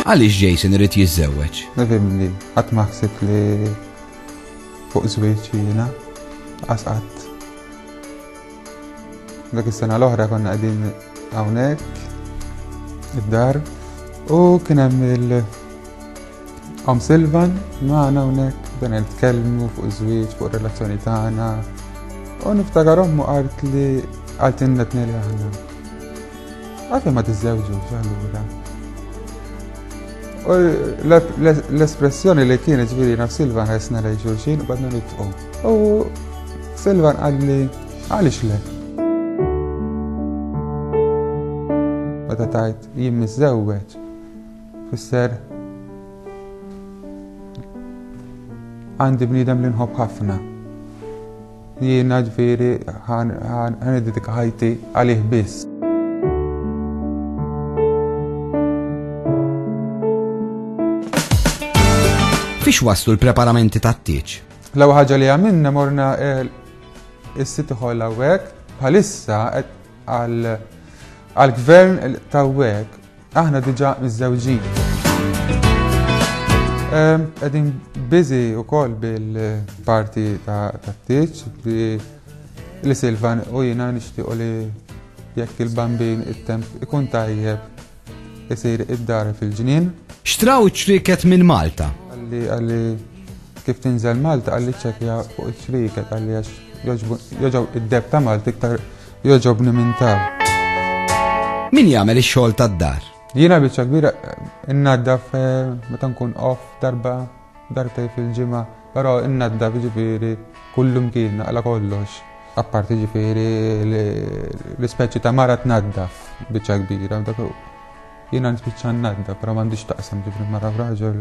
Għaliex Jason irid jiżżewweġ? Nifhem li qatt ma ħsib li fuq żwieġ jiena qasqat. Dak is-sena l-oħra konna qegħdin hawnhekk id-dar u kien hemm il- Om Silvan, maħna hawnhekk dan nitkellmu fuq iż-żwieġ, fuq ir-relazzjoni tagħna. U niftakar ommu qalt li qalt innet neli aħna. Għalfejn ma tiżżewġux allura. U l-espressjoni li kienet ġifieri naf Silvan ħessna lejn xulxin u badna nitqu. U Silvan qalli għaliex le. Meta tajt jien miżżewweġ, Fisser għandi bniedem li nħobb ħafna. Jiena ġviri għan id-dika ħajti għalih biss. Fiex waslu l-preparamenti ta' t-tieċ? Law ħagġa li għamilna morna eh, il-sit iħol għawek, bħalissa għal-gvern ta' għawek Aħna diġà miżżewġin. Ehm, qegħdin biżi wkoll bil-parti ta' tieġ bi li Silvan u jina nishtiq li jekk il-bambin it-temp ikun tajjeb isir id-dar fil-ġnien. Xtraw ċriket minn Malta. Għalli għalli kif tinżel Malta għalli ċekja fuq ċriket għalli għax joġaw id-deb ta' Malta iktar Jogħġobni minn tar. Min jagħmel ix-xogħol tad-dar? Jiena biċċa kbira innaddaf eh, meta nkun off darba darbtej fil-ġimgħa, però innaddaf ġifieri kullum kien għala kollox. Apparti ġifieri l-ispeċi ta' mara tnaddaf biċċa kbira Jiena nispiċċa n-nadda, però m'għandix taqsam ġifri mara f'raġel.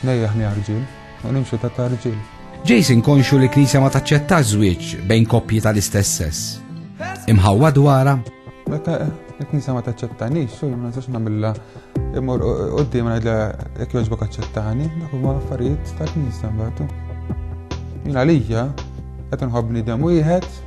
Nejjaħni arġil, u nimxu ta' tarġil. Jason konxu li knisja ma taċċetta żwieġ bejn koppji tal-istess sess. Imħawwa dwara? Meta il-knisja ma taċċettanix, xejn ma nistax nagħmilha imur qudiem ngħidla jekk jogħġbok aċċettani, dak huma affarijiet tal-knisja mbagħad. Jien għalija qed inħobb bniedem wieħed